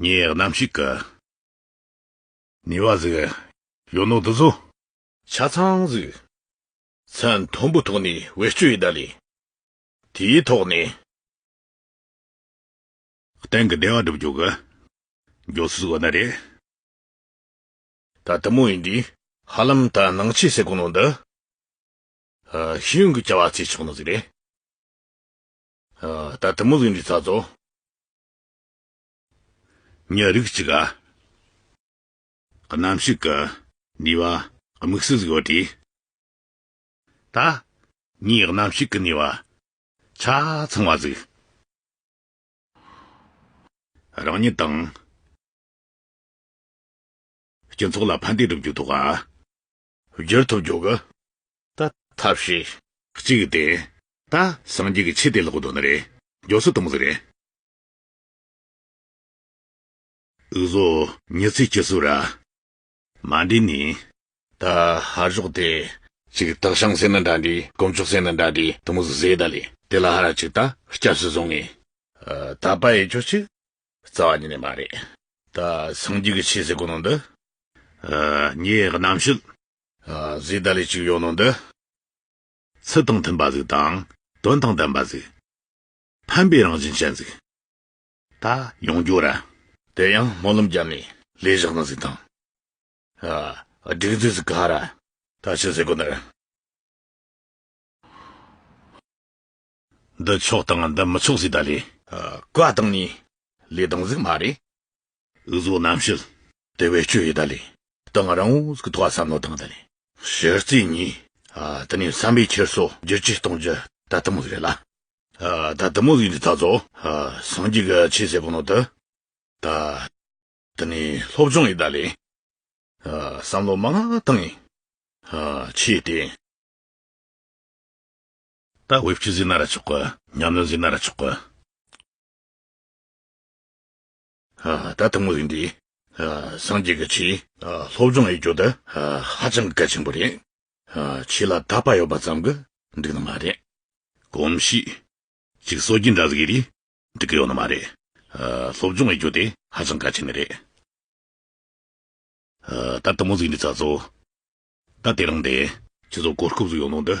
ངས་རྣམ་ཤེས་ཀྱི། ནུས་བ་ཟིག། གཡོ་ནོ་འདི་ཚོ། ཆ་ཚང་ཟིག། ཚད་མཐོན་པོའི་ཐོག་ནས་བེད་སྤྱོད་ཡོད་ད་ལེ། དེའི་ཐོག་ནས། སྟེང་གི་བདེ་བ་སྒྲུབ་རྒྱུ་གི། མགྱོགས་ཚུལ་བ་ན་རེད། ད་དུ་མོ་ཡིན་དུས། ཧ་ལམ་ད་ནང་ཆེས་སེ་གོ་ནོ་འདི། ཤེས་ཡོན་གྱི་བྱ་བ་བྱེད་ཆོག་ནོ་ཟིག་རེད། ད་ལྟ་མོ་གཟུགས་འདི་ཚར་ཚོ། ཉག་རིགས་གཅིག་ག། གནམ་ཞིག་གི། ནུས་བ། དམིགས་བསལ་གཟུགས་བོ་དེ། ད། ངའི་གནམ་ཞིག་གི་ནུས་བ། ཆ་ཚང་བ་གཟུགས། རང་ཉིད་དང། སྤྱི་ཚོགས་ལ་ཕན་བདེ་སྒྲུབ་རྒྱུ་ཐོག་ག། བསྒྱུར་ཐོབ་འཇོག་གི། ད། ཐབས་ཤེས། གཅིག་བསྟན། ད། སངས་རྒྱས་ཀྱི་ཆེད་དེ་ལོག་འདོད་ན་རེད། མགྱོགས་ཚོད་གཏོང་གཟིགས་རེད། འུ་བཟོ། མྱི་ཚེ་སྐྱིད་སུ་ར། མ་འདྲི་ནི། ད། ཧ་ཞོག་དེ། ཅིག་སྟག་ཤང་སེ་ན་འདྲ་འདྲི་དཀོན་མཆོག་སེ་ན་འདྲ་འདྲི་དུ་མུ་ཟུ་ཟེ་ད་ལི་དེ་ལ་ཧ་ར་ཅིག་ད་སྐྱབས་སུ་བཟུང་ངེས། ད་པ་ཡེ་ཆོག་ཅིག། རྩ་བ་ཉིད་ནས་མ་རེད། ད་སངས་རྒྱས་ཀྱི་ཆོས་ཟེར་དགོས་ནོ་འདི། ངའི་རྣམ་ཤེས། གཟིགས་ད་ལས་གཅིག་ཡོད་ནོ་འདི། ཚུལ་དང་མཐུན་པ་གཟིགས་དང། དོན་དང་ལྡན་པ་གཟིགས། ཕན་པའི་རང་བཞིན་ཅན་གཟིགས། ད་ཡོངས་གྱུར་ར། དེ་ཡང་སྨོན་ལམ་བརྒྱབ་ནས། ལས་བཞག་ན་གཟིགས་དང། སྒྲིག་འཛུགས་གཟིགས་ག་ར། ད་ཕྱི་ཟེར་དགོས་འདི། འདི་ཆོག་དང་འདི་མི་ཆོག་ཟེར་ད་ལས། བཀའ་བཏང་ནས་ལས་དང་གཟིགས་མ་རེད། འུ་ཟོ་རྣམ་ཤེས་དེ་བས་སྐྱོ་ཡོད་ད་ལས། དང་རང་འུ་ཟིག་ཐོག་བསམ་བློ་བཏང་ད་ལས། གཞི་རྩའི་ནི། དེ་ནས་བསམ་པའི་འཁྱེར་སོ་བསྒྱུར་བཅོས་གཏོང་རྒྱུ་ད་དུ་མོ་ཟིག་རེད་ལ། ད་དུ་མོ་ཟིག་འདི་ད་གཟོ། སངས་རྒྱས་ཀྱི་ཆོས་ཟེར་པོ་ནོར་དུ་ད། དེ་ནས་སློབ་སྦྱོང་ཡོད་ད་ལས། བསམ་བློ་མ་བཏང། ཆོས་དེ། ད་དབུས་སྤྱི་ཟིག་ན་ར་ཆོག་གི། ཉམས་ལེན་ཟིག་ན་ར་ཆོག་གི། ད་ཐུང་ངུ་ཟིག་འདི། སངས་རྒྱས་ཀྱི་ཆེད། སློབ་སྦྱོང་ཡིག་སྐྱོ་འདི། ཧ་ཅང་གལ་ཆེན་པོ་རེད། ཆོས་ལ་དད་པ་ཡོད་པ་ཙམ་གྱི་འགྲིག་ནི་མ་རེད། གོམས་གཤིས། ཅིག་སོ་གྱི་འདྲ་ཟིག་རེད། འགྲིག་གི་ཡོད་ནི་མ་རེད། སློབ་སྦྱོང་ཡིག་སྐྱོ་དེ་ཧ་ཅང་གལ་ཆེན་ནི་རེད། ད་དུམ་མོ་ཟིག་འདི་ཚ་ཚོ། ད་དེ་རང་དེ། ཆུ་ཚོགས་གོ་སྐབས་ཟིག་ཡོང་ནོ་འདི།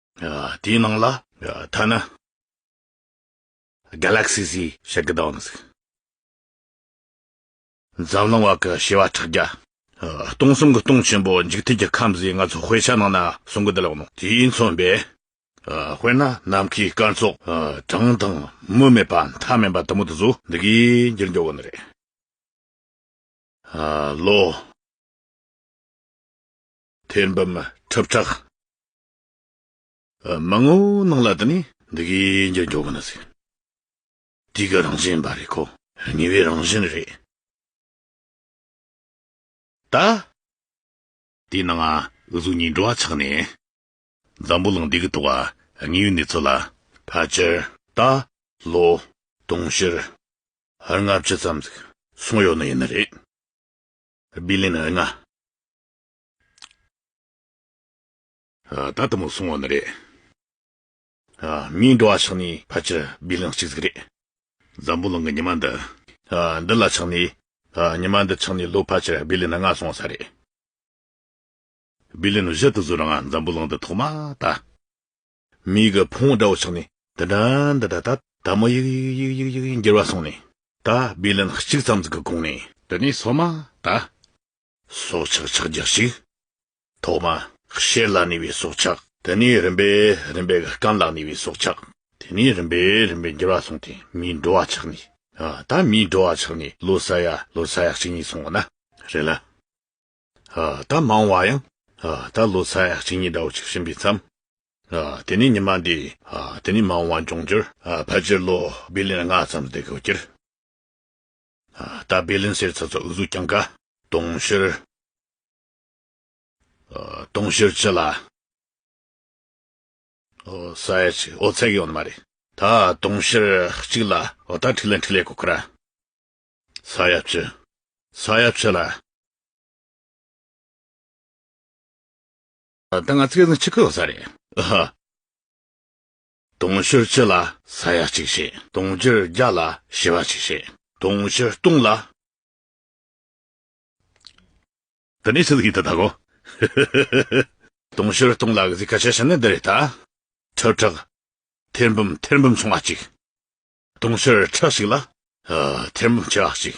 དེའི་ནང་ལ། ཐ་ན། Galaxy Z ཞེས་ཀྱི་དང་གཟུགས། འཛམ་གླིང་བར་གྱི་བྱེ་བ་ཕྲག་བརྒྱ། སྟོང་གསུམ་གྱི་སྟོང་ཆེན་པོའི་འཇིག་རྟེན་གྱི་ཁམས་བཟོས་ང་ཚོ་དཔེ་ཆ་ནང་ན་གསུང་གི་འདི་ལགས་ནོ་དེའི་མཚོན་པས། དཔེར་ན་ནམ་མཁའི་སྐར་ཚོགས་གྲངས་དང་མུ་མེད་པ་མཐའ་མེད་པ་དུ་མུ་དུ་སུ་འདི་གའི་འགྱུར་འགྱུར་བ་ནི་རེད། ལོ། ཐེར་འབུམ་ཁྲི་ཕྲག། མ་ངོ་ནང་ལ་དུ་ནི་འདི་གའི་འགྱུར་འགྱོག་གི་ན་ཟིག། དུས་ཀྱི་རང་བཞིན་པ་རེད་ཁོ། ཉེ་བའི་རང་བཞིན་རེད། ད། དེས་ན་ང་གཟུགས་གཉིས་འགྲོ་བ་ཆགས་ནས། འཛམ་བུ་གླིང་འདི་གི་དུ་བ་དངོས་ཡོད་གནས་ཚུལ་ལ་ཕལ་ཆེར། ད་ལོ། དུང་ཕྱུར། ལྔ་བཅུ་ཙམ་ཟིག་སོང་ཡོད་ནི་ཡིན་ནི་རེད། སྦི་ལིན་ལྔ། ད་ལྟ་མོ་སོང་བ་ནི་རེད། མིའི་འགྲོ་བ་ཆགས་ནས་ཕལ་ཆེར་སྦིར་ལངས་གཅིག་ཟིག་རེད། འཛམ་བུ་གླིང་གི་ཉི་མ་འདི། འདི་ལ་ཆགས་ནས། ཉི་མ་འདི་ཆགས་ནས་ལོ་ཕལ་ཆེར་སྦིར་ལི་ན་ལྔ་སོང་ས་རེད། སྦིར་ལི་ན་བཞི་དུ་ཟུར་ལྔ་འཛམ་བུ་གླིང་འདི་ཐོག་མ་ད། མིའི་གི་འཕོངས་འདྲ་བོ་ཆགས་ནས་འདི་འདྲ་འདི་འདྲ་ད་ད་མོ་ཡིག་ཡིག་ཡིག་ཡིག་ཡིག་འགྱུར་བ་སོང་ནས་ད་སྦིར་ལི་ན་གཅིག་ཙམ་ཟིག་གི་གོང་ནས། འདི་ནས་སོ་མ་ད། སྲོག་ཆགས་ཕྱག་རྒྱ་ཞིག། ཐོག་མ། ཤེད་ལ་ནུས་པའི་སྲོག་ཆགས། དེ་ནས་རིམ་པས་རིམ་པས་སྐམ་ལ་ནུས་པའི་སྲོག་ཆགས། དེ་ནས་རིམ་པས་རིམ་པས་འགྱུར་བ་སོང་སྟེ་མིའི་འགྲོ་བ་ཆགས་ནས། ད་མིའི་འགྲོ་བ་ཆགས་ནས་ལོ་ས་ཡ་ལོ་ས་ཡ་གཅིག་གཉིས་སོང་བ་ན། རེད་ལ། ད་མང་བ་ཡང། ད་ལོ་ས་ཡ་གཅིག་གཉིས་འདྲ་བོ་ཆགས་བཞིན་པའི་མཚམས། དེ་ནས་ཉི་མ་འདས། དེ་ནས་མང་བ་འབྱུང་འགྱུར། ཕལ་ཆེར་ལོ་བྷི་ལིན་ལྔ་ཙམ་འདས་གོ་གྱུར། རྟ་སྦལ་ལན་སེར་ཚ་ཚ་འུ་གཟུགས་རྐྱང་ཁ། དུང་ཕྱུར། དུང་ཕྱུར་ཅི་ལ། ས་ཡ་གཅིག་ཨོ་ཚད་ཀྱི་ཡོང་ནི་མ་རེད། ད་དུང་ཕྱུར་གཅིག་ལ་ཨོ་ད་ཁྲིག་ལན་ཁྲིག་ལས་གོ་ཁ་ར། ས་ཡ་བཅུ། ས་ཡ་བཅུ་ལ། ད་ང་ཚོ་ཁེ་བཟང་ཆི་ཁུ་ཨོ་ས་རེད། ཨ་ཧ། དུང་ཕྱུར་བཅུ་ལ་ས་ཡ་གཅིག་བྱེད། དུང་ཕྱུར་བརྒྱ་ལ་བྱེ་བ་གཅིག་བྱེད། དུང་ཕྱུར་སྟོང་ལ། འདི་ནི་ཚིག་ཡིན་དུ་བཏག་གོ། དུང་ཕྱུར་སྟོང་ལ་གཟིགས་ཁ་བྱ་བྱེད་ནི་འདི་རེད་ད། ཁྲི་ཕྲག། ཐེར་འབུམ་ཐེར་འབུམ་ཆུང་བ་གཅིག། དུང་ཕྱུར་ཁྲི་ཞིག་ལ། ཐེར་འབུམ་བྱེ་བ་གཅིག།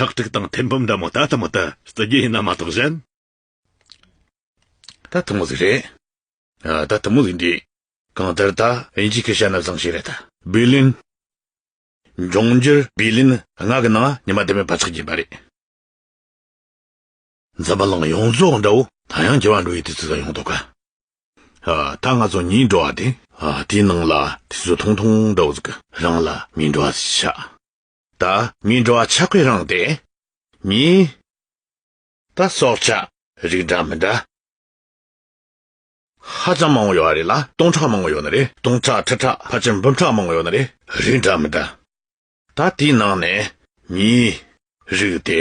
ཁྲག་ཁྲིག་དང་ཐེར་འབུམ་འདྲ་མོ་ད་ལྟ་མོ་ད་བརྩི་རྒྱུ་ཡིན་ན་མ་གཏོགས་གཞན། ད་ཐུང་མོ་ཟིག་རེད། ཨ་ད་ཐུང་མོ་ཟིག་འདྲིས། གང་ལྟར་ད་ཨིན་ཇིའི་ཁེ་ཤ་ན་བཟང་ཞིག་རེད་ད། བི་ལིན། འབྱུང་འགྱུར་བི་ལིན་སྔགས་ཀྱི་ནང་ཉི་མ་དེ་མེད་པ་ཆགས་ཀྱིན་པ་རེད། འཛམ་བ་ལང་ཡོངས་རྫོགས་འདྲ་བོ་ད་ཡང་རྒྱལ་བ་འགྲོ་ཡི་དུས་ཚོད་ད་ཡོང་ཐོག་ག། ཨ་ད་ང་ཚོ་གཉིས་འགྲོ་བ་དེ། ཨ་དེའི་ནང་ལ་དུས་ཚོད་ཐུང་ཐུང་འདྲ་བོ་ཟིག་གི་རང་ལ་མི་འགྲོ་བ་ཟིག་ཆགས། ད་མི་འགྲོ་བ་ཆགས་པའི་རང་དེ་མྱི། ད་སྲོག་ཆགས་རིགས་འདྲ་མི་འདྲ། ཧ་ཅང་མང་བོ་ཡོད་རེད་ལ་སྟོང་ཕྲག་མང་བོ་ཡོད་ནི་རེད་སྟོང་ཕྲག་ཁྲི་ཕྲག་ཕར་ཕྱིན་འབུམ་ཕྲག་མང་བོ་ཡོད་ནི་རེད་རིགས་འདྲ་མི་འདྲ། ད་དེའི་ནང་ནས་མྱི། རིགས་དེ།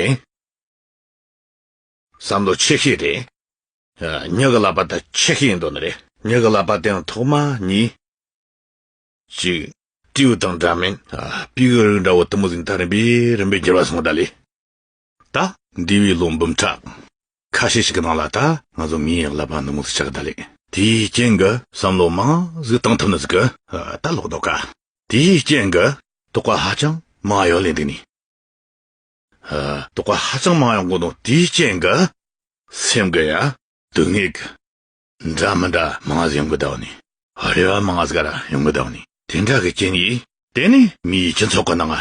བསམ་བློ་ཆེ་ཤོས་དེ། མྱི་གི་ལག་པ་ད་ཆེ་ཤོས་ཡིན་འདུག་ནི་རེད་མྱི་གི་ལག་པ་དེའང་ཐོག་མ་མྱི། ཅིག། སྤྲེའུ་དང་འདྲ་མིན། པི་ཀོའི་རིགས་འདྲ་བོ་དུམ་བུ་ཟིང་ཐག་རིམ་པས་རིམ་པས་འགྱུར་བ་སོང་བ་དག་ལས། ད། འདས་པའི་ལོ་འབུམ་ཕྲག། ཁ་ཤས་ཤིག་གི་ནང་ལ་ད། ང་ཚོ་མིའི་ཡང་བསླབ་པ་འདུ་མུག་ཏུ་ཆགས་ཀ་ད་ལས། དེའི་རྐྱེན་གྱི། བསམ་བློ་མང། གཟུགས་དང་ཐབས་ནི་གཟུགས། ད་ལོག་དོགས་དཀའ། དེའི་རྐྱེན་གྱི། དོགས་པ་ཧ་ཅང། མང་ཡང་ལས་འདི་ནི། དོགས་པ་ཧ་ཅང་མང་ཡང་དགོངས་དོན་དེའི་རྐྱེན་གྱི། སེམས་ཀྱི་ཡ། དུ་ངེས། འདྲ་མི་འདྲ་མང་ངས་ཡོང་གི་འདུག་ནི། རེ་བ་མང་ངས་ཡོང་གི་འདུག་ནི། དེ་འདྲ་གི་རྐྱེན་གྱིས། དེ་ནི་མིའི་སྤྱི་ཚོགས་ཀྱི་ནང།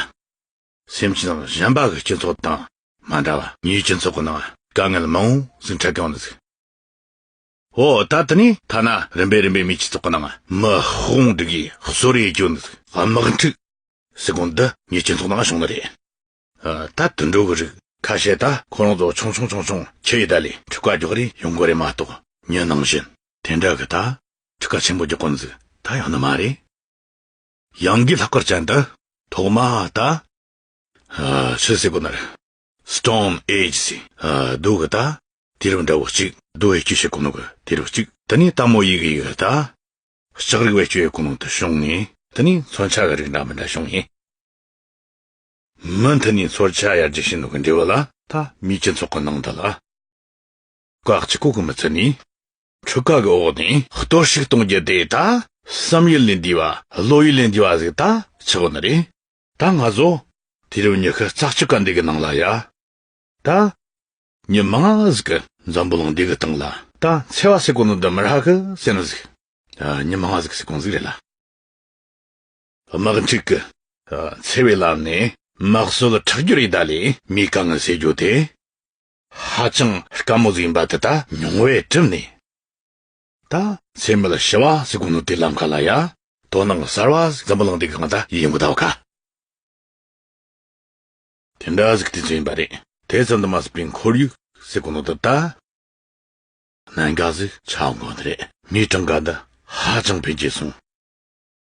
སེམས་ཅན་དང་གཞན་པ་གི་སྤྱི་ཚོགས་དང་མ་འདྲ་བ། མིའི་སྤྱི་ཚོགས་ཀྱི་ནང་དཀའ་ངལ་མང་བོ་ཟིན་འཕྲད་ཀྱང་འདུག། འོ་ད་དེ་ནི་ཐ་ན་རིམ་པས་རིམ་པས་མིའི་སྤྱི་ཚོགས་ཀྱི་ནང། དམག་དཔུང་འདི་གའི་གསོ་རེས་བྱུང་འདུག་དམག་འཁྲུག། སྲིད་དགོན་འདི་ངའི་སྤྱི་ཚོགས་ནང་བྱུང་ནི་རེད། ད་དུད་འགྲོ་གི་རིགས་ཁ་ཤས་ད་ཁོ་རང་ཚོ་ཆུང་ཆུང་ཆུང་ཆུང་ཁྱི་ཡི་ད་ལས་ཕྲུ་ག་འགྱོག་རིན་ཡོང་གི་རེད་མ་གཏོགས་ཉོན་ནང་བཞིན་དེ་འདྲ་གི་ད་ཕྲུ་ག་ཆེན་པོ་འགྱོག་གི་འཛུགས་ད་ཡག་ནི་མ་རེད། གཡང་གི་ལྷག་དཀར་ཅན་ད་ཐོག་མ་ད་ཆུ་སེར་པོ་ནར Stone Age སི་སྡོད་གི་ད་དེ་རིགས་འདྲ་བོ་གཅིག་སྡོད་བའི་སྐྱོད་བྱེད་གོ་ནོ་གི་དེ་རིགས་གཅིག་ད་ནི་ལྟ་མོ་ཡི་གི་ཡི་གི་ད་ལྕགས་རིགས་བེད་སྤྱོད་གོ་ནོ་དུ་བྱུང་ནས་ད་ནི་མཚོན་ཆ་གི་རིགས་འདྲ་མི་འདྲ་བྱུང་ཡིན། མི་མཐུན་ནི་ཚོར་བྱ་ཡར་རྒྱས་ཤིན་ཏུ་གི་འབྲས་བུ་ལ། ཐ་མི་དཀྱིལ་ཚོགས་ཀྱི་ནང་དུ་ལ། བཀག་ཅིང་བཀུག་གི་མི་ཚུལ་ནི། འཁྲུལ་བཀག་གི་འོག་ནས། གཏོར་བཤིག་གཏོང་རྒྱུ་དེ་ད། བསམ་ཡུལ་ལས་འདས་པ་བློ་ཡུལ་ལས་འདས་པ་གཟིགས་ད་ཆགས་པ་ནི་རེད། ད་ང་བཟོ། དུས་རབས་ཉི་ཤུ་རྩ་གཅིག་ག་འདི་གི་ནང་ལ་ཡ། ད། ཉི་མ་ང་གཟིགས་གི། འཛམ་བུ་གླིང་འདི་གི་སྟེང་ལ། ད་འཚེ་བ་སེ་གོང་དུ་འདི་མི་རག་གི་སེ་ན་གཟིགས། ཉི་མ་ང་གཟིགས་གི་སེ་གོང་གཟིགས་རེད་ལ། དམག་འཁྲུག་གི་འཚེ་བའི་ལམ་ནས་དམག་སྲོལ་ཁྲག་རྒྱུད་རི་དྭགས་ལས་མི་རྐང་ཟེར་རྒྱུ་དེ་ཧ་ཅང་དཀའ་མོ་ཟིག་ཡིན་པ་དེ་ལྟ་མྱོང་བས་གྲིབ་ནས་ད་ཚེ་མི་ལ་ཞི་བ་ཟིག་དགོངས་ནོ་དེ་ལམ་ཁ་ལ་ཡ་དོ་སྣང་གསར་བ་ཟིག་འཛམ་བུ་གླིང་འདི་གང་ད་ཡིན་གོ་ད་བ་ཁ། དེ་འདྲ་ཟིག་དེ་ཚོ་ཡིན་པ་རེད་དེ་ཙམ་དུ་མ་ཟིག་པའི་འཁོར་ཡུག་ཟིག་གོ་ནོ་དེ་ད་གནད་འགག་ཟིག་ཆགས་འགོ་ནི་རེད་མི་གྲངས་ཀ་ད་ཧ་ཅང་འཕེལ་རྒྱས་སོང།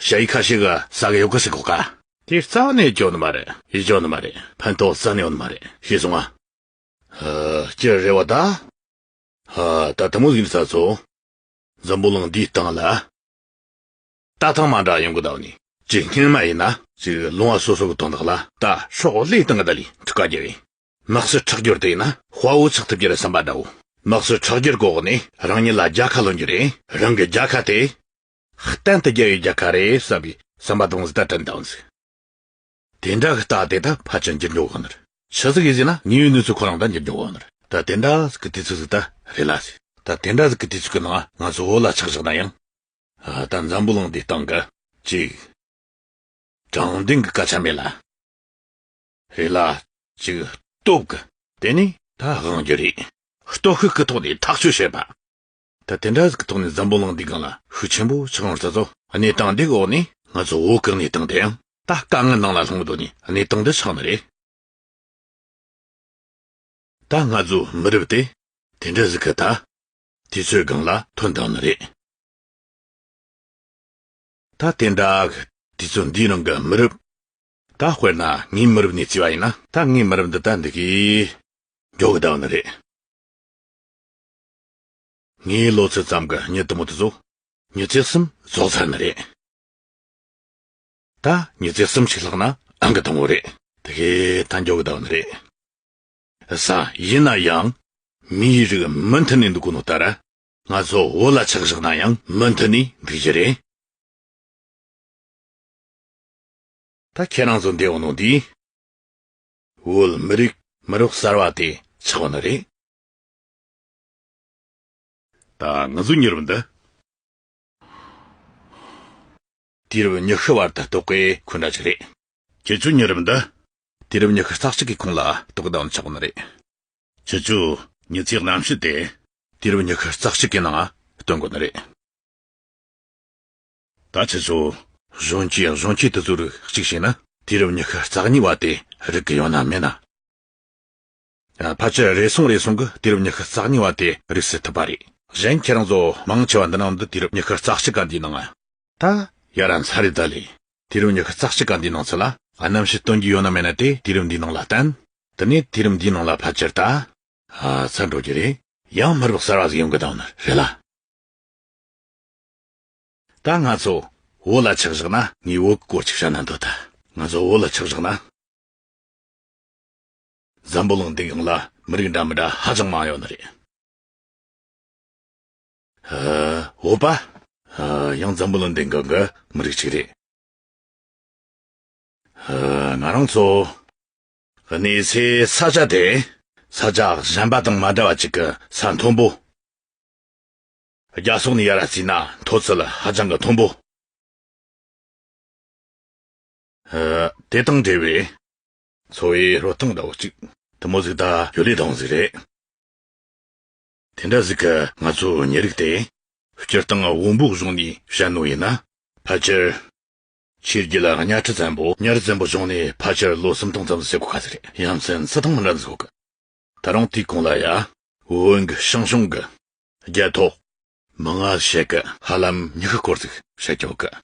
ཞྭ་ཡི་ཁ་ཞིག་གི་ས་ག་ཡོ་གི་སི་གོ་ག། དེ་རྩ་བ་ནས་འཇོག་ནི་མ་རེད། ཡི་འཇོག་ནི་མ་རེད། ཕན་ཐོག་རྩ་ནས་ཡོང་ནི་མ་རེད། ཞེས་གསུང་ང། ཧ། ཅི་རེད་བ་ད། ཧ། ད་ཐུ་མོ་གཟིགས་ས་ཚོ། འཛམ་བུ་གླིང་འདིའི་སྟེང་ལ། རྟ་ཐང་མ་འདྲ་ཡོང་གི་ད་བ་ནི། ཅི་སྙན་མ་ཡིན་ན། ཅིག་ལུང་བ་སོ་སོ་གི་དོན་དག་ལ། ད་ཤོག་ལེའི་སྟེང་གི་ད་ལི་འཁྲུ་ཀ་རྒྱལ་བའི། ནགས་གསོད་ཁྲག་སྦྱོར་དེ་ཡིན་ན་དཔའ་བོ་ཚགས་ཐུབ་རྒྱུ་རེད་བསམ་པ་འདྲ་བོ། ནགས་གསོད་ཁྲག་སྦྱོར་གོ་གི་ནས་རང་ཉིད་ལ་རྒྱལ་ཁ་ལོན་རྒྱུ་རེད་རང་གི་རྒྱལ་ཁ་དེ། གཏན་དུ་རྒྱལ་བའི་རྒྱལ་ཁ་རེད་བསམ་པའི་བསམ་པ་དང་ཟླ་དྲན་དང། དེ་འདྲ་གི་རྟགས་དེ་ད་ཕར་ཕྱིན་འགྱུར་འགྲོ་གི་ནི་རེད་ཕྱི་ཟིག་གིས་ཟིག་ན་ཉེ་བའི་གནས་ཚུལ་ཁོ་རང་ད་འགྱུར་འགྲོ་གི་ནི་རེད་ད་དེ་འདྲ་ཟིག་གི་དུས་ཚོད་ཟིག་ད་རེད་ལ་ཟིག་ད་དེ་འདྲ་ཟིག་གི་དུས་ཚོད་གི་ནང་ང་ཚོ་འོ་ལ་ཆགས་བཞག་ན་ཡང། ཨ་ད་འཛམ་བུ་གླིང་འདིའི་སྟེང་གི་གཅིག་དྲང་བདེན་གི་སྐད་ཆ་མེད་ལ། རེད་ལ། ཅིག་སྟོབས་ཀྱི། དེ་ནི་ད་དབང་རྒྱུ་རེད། སྟོབས་ཤུགས་ཀྱི་ཐོག་ནས་ཐག་གཅོད་བྱེད་པ། ད་དེ་འདྲ་ཞིག་གི་ཐོག་ནས་འཛམ་བུ་གླིང་འདིའི་སྒང་ལ་ཤུགས་ཆེན་པོ་ཆགས་ཡོང་ས་སོ། གནས་སྟངས་འདིའི་འོག་ནས་ང་ཚོ་འོ་གག་གནས་སྟངས་དེ་ཡང་ད་དཀའ་ངལ་ནང་ལ་ལྷུང་འགྲོ་ནས་གནས་སྟངས་འདི་ཆགས་ནི་རེད། ད་ང་ཚོ་མི་རབས་དེ་དེ་འདྲ་ཞིག་གི་ད་དུས་ཚོད་སྒང་ལ་ཐོན་གདའ་ནི་རེད། ད་དེ་འདྲ་གི་དུས་ཚོད་འདིའི་ནང་གི་མི་རབས་ད་དཔེར་ན་ངའི་མི་རབས་ནས་བརྩིས་པ་ཡིན་ན། ད་ངའི་མི་རབས་འདི་ལྟ་འདི་གའི། མགྱོགས་གི་ཟླ་བ་འདི་རེད། ངའི་ལོ་ཚོད་ཙམ་གྱི་མྱི་དུ་མོ་དེ་ཚོ། མྱི་ཚེ་གསུམ་རྫོགས་ཚར་ནི་རེད། ད་མྱི་ཚེ་གསུམ་ཞིག་ལྷག་ན་ཨང་ཀི་དང་བོ་རེད། དེ་གའི་ད་མགྱོགས་གི་ཟླ་བ་འདི་རེད། ས་ཡིན་ན་ཡང། མིའི་རིགས་མུ་མཐུད་ནས་འདུག་དགོས་ནོ་ལྟར། ང་ཚོ་བོད་ལ་ཆགས་བཞག་ན་ཡང་མུ་མཐུད་ནས་འདུག་རྒྱུ་རེད། ད་ཁྱེད་རང་ཚོ་འདས་བ་ནང་དེའི། བོད་མི་རིགས་མི་རོགས་གསར་བ་དེ་ཆགས་པ་ནི་རེད། ད་ང་ཚོ་མྱུར་བ་འདི། དུས་རབས་ཉི་ཤུ་བར་དུ་རྟོག་གེ་འཁོན་འདྲ་ཅིག་རེད། ཁྱེད་ཚོ་མྱུར་བ་འདི། དུས་རབས་ཉི་ཤུ་རྩ་གཅིག་གི་ཁོངས་ལ་རྟོག་གེ་དང་ཆགས་པ་ནི་རེད། ཁྱེད་ཚོས་མྱུར་ཚད་གནམ་གཤིས་དེ། དུས་རབས་ཉི་ཤུ་རྩ་གཅིག་གི་ནང་སྟོན་དགོས་ནི་རེད། ད་ཚེ་ཚོ། གཞོན་སྐྱེས་གཞོན་སྐྱེས་དེ་ཚོ་རིགས་གཅིག་བྱས་ན། དུས་རབས་ཉི་ཤུ་རྩ་གཉིས་བར་དེ་རིགས་ཀྱི་ཡང་ན་མེད་ན། ཕལ་ཆེར་རེ་ཟུང་རེ་ཟུང་གི་དུས་རབས་ཉི་ཤུ་རྩ་གཉིས་བར་དེ་རིགས་སྲིད་ཐུབ་པ་རེད། གཞན་ཁྱེད་རང་ཚོ་མང་ཆེ་བ་འདི་ནང་འདི་དུས་རབས་ཉི་ཤུ་རྩ་གཅིག་ག་འདིའི་ནང། ད་ཡ་ར་འཚར་རེ་ད་ལས། དུས་རབས་ཉི་ཤུ་རྩ་གཅིག་ག་འདིའི་ནང་ཚུད་ལ་རྣམ་དཔྱོད་སྟོན་རྒྱུ་ཡོད་ན་མེད་ན་དེ་དུས་རབས་འདིའི་ནང་ལ་བརྟེན། དེ་ནས་དུས་རབས་འདིའི་ནང་ལ་ཕལ་ཆེར་ད། ཚར་འགྲོ་རྒྱུ་རེད། ཡང་མི་རབས་གསར་བ་ཟིག་ཡོང་གི་གདའ་བ་ནི་རེད་ལ། ད་ང་ཚོ་བོད་ལ་ཆགས་བཞག་ན། ངའི་བོད་སྐོར་ཅིག་བཤད་ན་འདོད་ད། ང་ཚོ་བོད་ལ་ཆགས་བཞག་ན། འཛམ་བུ་གླིང་འདི་ཡོངས་ལ་མི་རིགས་འདྲ་མི་འདྲ་ཧ་ཅང་མང་ཡོད་ནི་རེད། བོད་པ། ཡང་འཛམ་བུ་གླིང་འདི་འགའ་འགའ་མི་རིགས་ཅིག་རེད། ང་རང་ཚོ། གནས་ཚེ་ས་ཆ་དེ། ས་ཆ་གཞན་པ་དང་མ་འདྲ་བ་ཅིག་གི་ས་མཐོན་པོ། རྒྱ་སོག་ནི་ཡ་ར་བརྩིས་ན་མཐོ་ཚད་ལ་ཧ་ཅང་གི་མཐོན་པོ། དེ་དང་འབྲེལ་བའི། འཚོ་བའི་རོ་སྟངས་ལྟ་བུ་གཅིག། དུ་མོ་གཟིག་དང་ཡོ་ལི་དང་གཟིག་རེད། དེ་འདྲ་གཟིག་གི་ང་ཚོ་ཉེ་རིགས་དེ། སྤྱིར་བཏང་འུ་འབུག་གཞུང་ནས་བཤད་ནོ་ཡིན་ན། ཕལ་ཆེར། ཆོས་རྒྱུད་ལ་གཉའ་ཁྲི་བཙན་པོ་གཉའ་རི་བཙན་པོ་གཞུང་ནས་ཕལ་ཆེར་ལོ་སུམ་སྟོང་ཙམ་ཟེར་དགོས་ག་ཟེ་རེད་ཡ་མཚན་སུ་དང་མི་འདྲ་འཛི་དགོས་གི། ད་རུང་དུས་གང་ལ་ཡ། བོན་གྱི་ཞིང་གཞུང་གི་རྒྱལ་ཐོག། མི་ངལ་བྱེད་གི་ཧ་ལམ་མྱི་ཤི་སྐོར་ཚིག་བཤད་ཀྱོག་གི།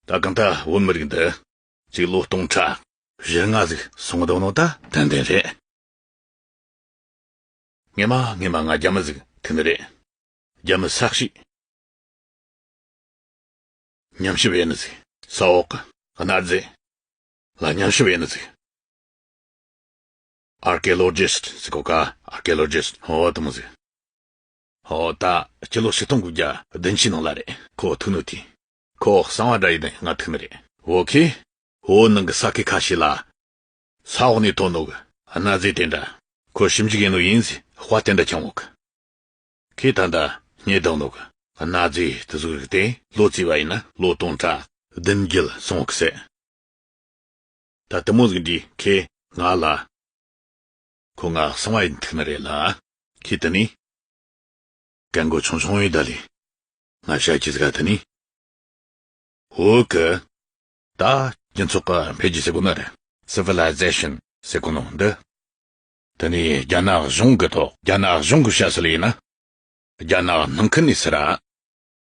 ད་གང་ད་བོད་མི་རིགས་འདི་ཅིག་ལོ་སྟོང་ཕྲག་བཞི་ལྔ་ཟིག་སོང་གདོང་ནོ་ད་དོན་དེ་རེད། ངེད་མ་ངེད་མ་ང་རྒྱ་མི་ཟིག་ཐིག་ནི་རེད་རྒྱ་མི་ས་གཤིས། ཉམས་ཞིབ་ཡེ་ནི་ཟིག་ས་འོག་གི་གནའ་རྫས་ལ་ཉམས་ཞིབ་ཡེ་ནི་ཟིག། Archaeologist ཟེར་གོ་ག Archaeologist ཧོ་ཏི་མོ་ཟེར། ཧོ་ཏ་སྤྱི་ལོ་ཞེ་སྟོང་དགུ་བརྒྱ་བདུན་ཕྱི་ནང་ལ་རེད་ཁོ་ཐུག་ནུ་དེ། ཁོ་གསང་བ་འདྲ་ཡིན་ནི་ང་ཐུག་ནི་རེད་བོ་ཁི། བོད་ནང་གི་ས་ཁི་ཁ་ཤས་ལ། ས་འོག་ནས་ཐོན་ནུ་གི་གནའ་རྫས་དེ་འདྲ། ཁོ་ཞིབ་འཇུག་ཡིན་ནུ་ཡིན་ཟི་དཔའ་དེ་འདྲ་འཆང་བོ་ཁི། ཁི་ད་ལྟ་ཉེ་དག་ནུ་གི་གནའ་རྫས་དེ་གཟུགས་རིག་དེ་ལོ་བརྩིས་བ་ཡིན་ན་ལོ་སྟོང་ཕྲག་བདུན་བརྒྱད་སོང་བ་ཁི་ཟེར། ད་ལྟ་མོ་ལིག་འདི་ཁེ་ང་ལ། ཁོ་ང་སང་བ་ཡི་ཐིག་ན་རེད་ལ། ཁེ་ད་ནི། སྐད་མགོ་ཆུང་ཆུང་ཡོད་ད་ལི། ང་ཤ་ཁྱི་ཟི་ག་ད་ནི། ཧོ་ཀི། ད་སྤྱི་ཚོགས་ཀ་འཕེལ་རྒྱས་སེ་གོ་ན་རེད། Civilization སེ་གོ་ནོ་འདི། ད་ནི་རྒྱ་ནག་གཞུང་གི་ཐོག་རྒྱ་ནག་གཞུང་གི་ཤ་སེ་ལ་ཡིན་ན། རྒྱ་ནག་ནང་ཁུལ་ནས་སེ་ར།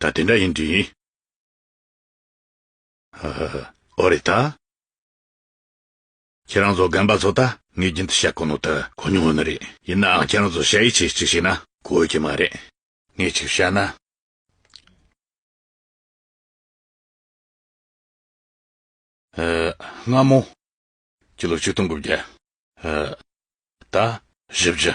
ད་དེ་འདྲ་ཡིན་དྲིས། ཧ་ཧ་ཧ། ཨོ་རེད་ད། ཁྱེད་རང་ཚོ་རྒན་པ་ཚོ་ད་ངའི་རྒྱུན་དུ་བཤད་གོ་ནོ་ད་གོ་མྱོང་ཡོད་ནི་རེད། ཡིན་ནའང་ཁྱེད་རང་ཚོ་བཤད་ཡིད་ཆེས་ཅིག་བྱེད་ན། དགོས་ཀྱི་མ་རེད། ངས་གཅིག་བཤད་ན། ཨ། སྔ་མོ། ཕྱི་ལོ་ཆིག་སྟོང་དགུ་བརྒྱ། ཨ། ད། བཞི་བཞི།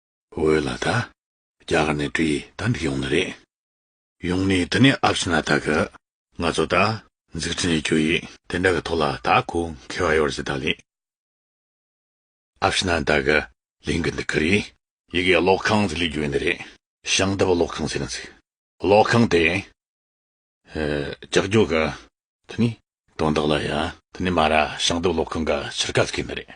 འོད་ལ་ད་རྒྱ་གར་ནས་བྲིས་ད་འདི་ཡོང་ནི་རེད། ཡོང་ནི་འདི་ནས་ཨབ་སི་ན་ད་གི་ང་ཚོ་ད་འཛིག་ཁྲི་ནས་རྒྱུ་ཡིག་དེ་འདྲ་གི་ཐོག་ལ་ད་གུ་འཁེལ་བ་ཡོར་ཟི་ད་ལིང། ཨབ་སི་ན་ད་གི་ལིང་གི་འདི་གི་རིག། ཡི་གེ་ཀློག་ཁང་ཟི་ལི་རྒྱུ་ཡིན་ནི་རེད། ཞང་ད་བ་ཀློག་ཁང་ཟེར་ནི་འཛིག་ཀློག་ཁང་དེ་ཀྱག་རྒྱོ་གི་དེ་ནི་དོན་དག་ལ་ཡ་དེ་ནི་མ་ར་ཞང་ད་བ་ཀློག་ཁང་ག་ཕྱིར་ག་ཟི་གི་ནི་རེད།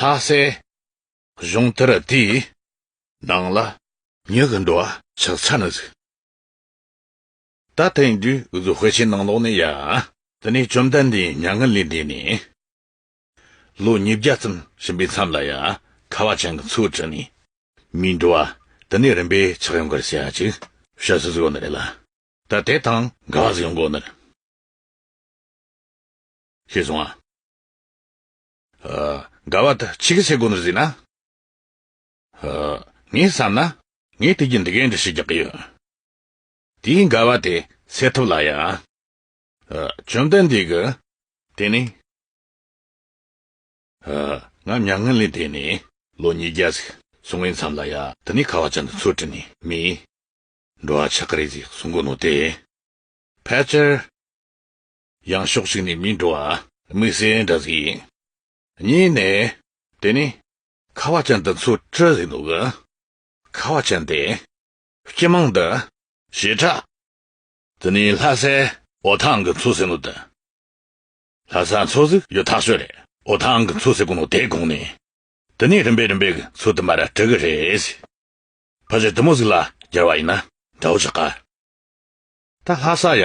ལྷ་སའི་གཞུང་དེར་དེའི་ནང་ལ་ཉི་གི་འགྲོ་བ་ཆགས་ཚར་ནས་བཟུང། ད་ཐེངས་དུས་བཟོ་དཔེ་ཆའི་ནང་ལོགས་ནས་ཡང་དེ་ནས་བཅོམ་ལྡན་འདས་མྱ་ངན་ལས་འདས་ནས་ལོ་ཉིས་བརྒྱ་ཙམ་ཕྱིན་པའི་མཚམས་ལ་ཡང་ཁ་བ་ཅན་གྱི་ཚུལ་དྲན་ནས་མིའི་འགྲོ་བ་དེ་ནས་རིམ་པས་ཆགས་ཡོང་གར་བྱེད་ཅིག་བཤད་སྲོལ་ཞིག་ཡོད་ནི་རེད་ལ། ད་དེ་དང་འགལ་བ་ཞིག་ཡོང་དགོས་ནི་རེད། ཞེས་གསུངས། དགའ་བ་དག་ཆིག་སེ་གོ་ནས་གཟིགས་ན། ངས་བསམ་ན། ངས་དུས་ཀྱི་འདི་གའི་འདྲི་ཤེས་རྒྱག་གི་ཡོད། དེའི་དགའ་བ་དེ་སེལ་ཐུབ་ལ་ཡ། བཅོམ་ལྡན་འདས་ཀྱི། དེ་ནས། ང་མྱ་ངན་ལས་འདས་ནས། ལོ་ཉིས་བརྒྱ་ཟིག་སོང་བའི་མཚམས་ལ་ཡ། དེ་ནས་ཁ་བ་ཅན་དུ་ཚུར་དྲིས་ནས་མི། འགྲོ་བ་ཆགས་ཀྱི་རེད་ཟིག་གསུང་གི་འདུག་སྟེ། ཕལ་ཆེར། ཡང་ཕྱོགས་གཅིག་ནས་མིའི་འགྲོ་བ། དམིགས་བསལ་འདྲ་ཟིག་ཡིན། གཉིས་ནས། དེ་ནི། ཁ་བ་ཅན་དེ་ཚོ་ཀྲི་ཟིག་འདུག་གི། ཁ་བ་ཅན་དེ། སྤྱི་མང་དུ། ཞེ་དྲག། དེ་ནི་ལྷ་སའི། འོ་ཐང་གི་ཚོ་ཟེར་ནོ་དེ། ལྷ་སའི་ཚོ་ཟིག་ཡོད་ཐག་ཆོད་རེད། འོ་ཐང་གི་ཚོ་ཟེར་དགོས་ནོ་དེའི་གོང་ནས། དེ་ནི་རིམ་པས་རིམ་པས་གི་ཚོ་དུ་མར་གྲི་གི་རེད་ཟིག། ཕ་ཆེ་དུ་མོ་ཟིག་ལ་སྦྱར་བ་ཡིན་ན་འདྲ་བོ་ཆགས། ད་ལྷ་ས་ཡ།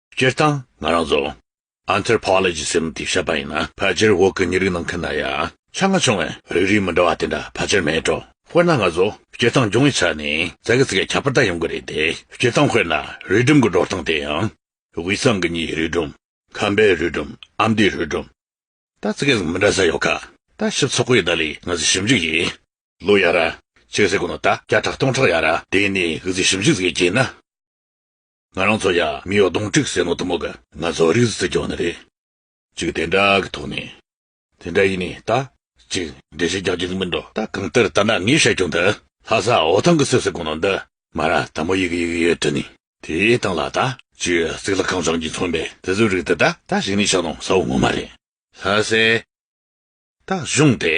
སྤྱིར་བཏང་ང་རང་ཚོ། Anthropology། ཟེར་ནས་དེ་བཤད་པ་ཡིན་ན་ཕལ་ཆེར་འོག་གི་ཉེ་རིགས་ནང་མཁན་ན་ཡང། ཆ་སྔ་བྱུང་བའི་རིགས་རིས་མི་འདྲ་བ་དེ་འདྲ་ཕལ་ཆེར་མེད་འགྲོ། དཔེར་ན་ང་ཚོ་སྤྱིར་བཏང་སྦྱོང་བའི་ཆ་ནས་ཙག་གེ་ཙི་གེ་ཁྱད་པར་དག་ཡོང་གི་རེད་དེ། སྤྱིར་བཏང་དཔེར་ན་རུས་སྦྲུམ་གྱི་སྒྲོག་སྟངས་དེ་ཡང། དབུས་གཙང་གི་མྱིའི་རུས་སྦྲུམ། ཁམས་པའི་རུས་སྦྲུམ་ཨ་མདོའི་རུས་སྦྲུམ། དང་ཙི་གེ་ཙི་གེ་མི་འདྲ་ས་ཡོད་ཁ། ལྟ་ཞིབ་ཚོགས་པའི་བརྡ་ལས་ངལ་རྩོལ་ཞིབ་འཇུག་ཡིན། ལོ་ཡར་ར། ཆིག་གསེར་དགུ་ནོར་རྟ་བརྒྱ་ཕྲག་སྟོང་ཕྲག་ཡར་ར། དེ་ནས་གུས་བརྩི་ཞིབ་འཇུག་ཙི་གེ་བྱས་ན། ང་རང་ཚོ་ཡང་མི་ཡོ་གདོང་དཀྲིགས་ཟེར་ནོ་དུ་མོ་ག། ང་ཚོ་རིགས་རྩི་སྐྱོང་ནི་རེད། ཅིག་དེ་འདྲ་གི་ཐོག་ནས། དེ་འདྲ་ཡིན་ནི་ད། ཅིག་འགྲེལ་བཤད་རྒྱག་རྒྱུ་ནི་མིན་འགྲོ་ད་གང་ལྟར་ད་ནངས་བཤད་རྒྱུ་འདི། ལྷ་ས་འོ་ཐང་གི་སེ་སེ་གོང་ནང་འདི། མ་ར་དང་མོ་ཡི་གི་ཡི་གི་ཡོད་དུ་ནི། དེའི་སྟེང་ལ་ད། ཅིག་གཙིགས་ལ་ཁང་བྱང་གིས་མཚོན་པའི་དེ་ཚོའི་རིགས་འདི་ད། ད་ཞིག་ནི་ཤག་ནང་ས་བོ་ངོ་མ་རེད། ལྷ་སའི། ད་གཞུང་དེ།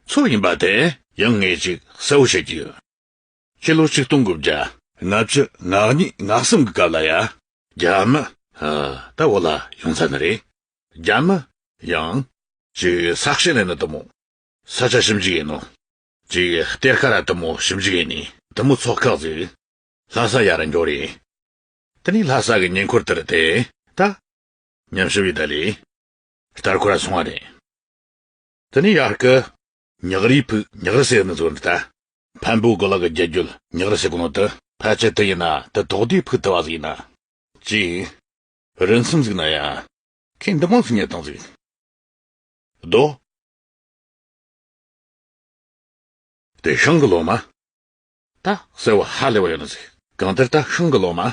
ཚོ་ཡིན་པ་དེ། ཡང་ངས་ཅིག་གསལ་བོ་བཤད་ཀྱི་ཡོད། ཁྱི་ལོ་གཅིག་སྟོང་དགུ་བརྒྱ། ལྔ་བཅུ་ང་གཉིས་ང་གསུམ་གྱི་སྐབས་ལ་ཡ། རྒྱ་མི། ཧ། ད་འོ་ལ་ཡོང་ཚར་ནི་རེད། རྒྱ་མི། ཡང། ཅིག་ས་གཤེན་ལས་ནི་དུ་མོ། ས་ཆ་ཞིབ་འཇུག་ཡིན་ནོ། ཅིག་གཏེར་ཁ་ར་དུ་མོ་ཞིབ་འཇུག་ཡིན་ནི། དུ་མོ་ཚོགས་ཁག་ཅིག། ལྷ་ས་ཡ་ར་འགྱོ་རེད། དེ་ནི་ལྷ་ས་གི་ཉེ་འཁོར་དེར་དེ། ད། ཉམས་ཞིབ་ཡི་ད་ལི། ལྟར་ཁོ་ར་སོང་བ་རེད། དེ་ནི་ཡར་སྐུ། ཉག་རིའི་ཕུག་ཉག་རི་སེ་ཡི་ནི་ཟོ་འདི་ལྟ། ཕན་པོའི་གོ་ལ་གི་རྒྱལ་རྒྱུད་ཉག་རི་སེ་གོ་ནོ་དི། ཕལ་ཆེར་དི་ཡིན་ན་དི་དོག་དེའི་ཕུག་དི་བ་ཟིག་ཡིན་ན། ཅིང། རི་མཚམས་ཟིག་ན་ཡང། ཁེ་འདི་མང་སུ་ཉེ་དང་ཟིག། རྡོ། དེ་ཤང་གི་ལོ་མ། ད་སེ་བ་ཧ་ལེ་བ་ཡོ་ན་ཟིག། གང་དེར་ད་ཤང་གི་ལོ་མ།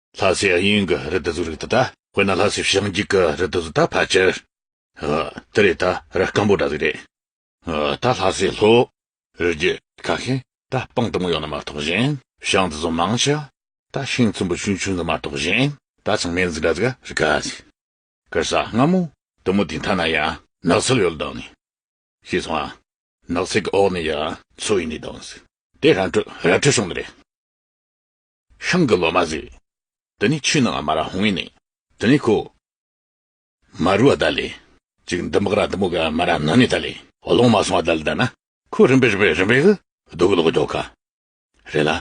ལྷ་སའི་དབྱིངས་ཀྱི་རི་དྭགས་གཟུགས་རིག་ད་ལྟ་དཔེར་ན་ལྷ་སའི་བྱང་རྒྱུད་ཀྱི་རི་དྭགས་གཟུགས་ད་ཕལ་ཆེར་ཨ་དེ་རེད་ད་ར་སྐམ་པོ་འདྲ་ཟིག་རེད་ཨ་ད་ལྷ་སའི་ལྷོ་རྒྱུད་ཁ་ཤས་ད་སྤང་དུམ་བུ་ཡོད་ན་མ་གཏོགས་གཞན་བྱང་དུ་ཟོམ་མང་ཆེ་ད་ཤིང་ཚོམ་བུ་ཆུང་ཆུང་གི་མ་གཏོགས་གཞན་ད་ཚང་མའི་གཟུགས་འདྲ་ཟིག་རི་ག་ཟིག་གར་ས་སྔ་མོ་དུམ་བུ་དེ་མཐའ་ན་ཡང་ནགས་ཚལ་ཡོད་ལྡང་ནས་ཤི་སོང་ཨ་ནགས་ཚལ་གྱི་འོག་ནས་ཡང་མཚོ་ཡིན་ནས་ལྡང་ཟིག་དེ་ར་འཕྲོད་ར་འཕྲོད་བྱུང་ནི་རེད། ཤང་གི་ལོ་མ་ཟིག། དེ་ནས་ཆུ་ནང་མ་ར་ཧོང་ཡིན། དེ་ནས་ཁོ། མ་རུ་བ་ད་ལེ། ཅིག་འདི་འབག་ར་དུ་མོ་ག་མ་ར་ནང་ནས་ད་ལེ། ལོང་མ་སོང་བ་ད་ལེ་ད་ན། ཁོ་རིམ་པས་རིམ་པས་རིམ་པས་གི། རྡོ་གི་ལོག་རྒྱོག་ག། རེད་ལ།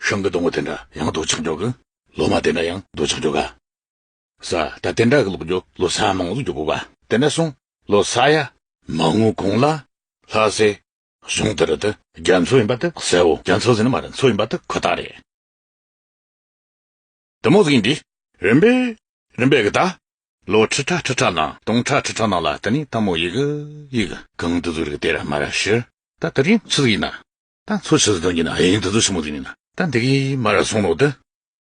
ཤང་གི་དོང་བོ་དེ་འདྲ་ཡང་རྡོ་ཆག་རྒྱོག་གི། ལོ་མ་དེ་འདྲ་ཡང་རྡོ་ཆག་རྒྱོག་ག། ས་ད་དེ་འདྲ་གི་ལོག་རྒྱོ་ལོ་ས་མང་ལོག་རྒྱོ་བོ་བ། དེ་འདྲ་སོང་ལོ་ས་ཡ། མ་ངུ་གོང་ལ། ལྷ་སེ། གཞུང་འདིར་དུ་རྒྱ་མཚོ་ཡིན་པ་དུ་གསལ་བོ་རྒྱ་མཚོ་ཟེར་ན་མ་རི་མཚོ་ཡིན་པ་དུ་ཁོ་ཐག་རེད། དུ་མོ་ཟིག་ཡིན་པས་རིམ་པས་རིམ་པས་གི་ད། ལོ་ཁྲི་ཕྲག་ཁྲི་ཕྲག་ནང་སྟོང་ཕྲག་ཁྲི་ཕྲག་ནང་ལ་དུ་ནི་ད་མོ་ཡིག་ཡིག། གང་དུ་ཟུག་རིག་དེ་ར་མ་ར་ཤི། ད་དུ་རིང་མཚོ་ཟིག་ཡིན་ན། ད་མཚོ་ཆུ་ཟིག་དོན་གྱི་ན་ཧེང་དུ་ཟུག་ཆུ་མོ་ཟིག་ཡིན་ན། ད་འདི་གི་མ་ར་སོང་ནོ་དུ།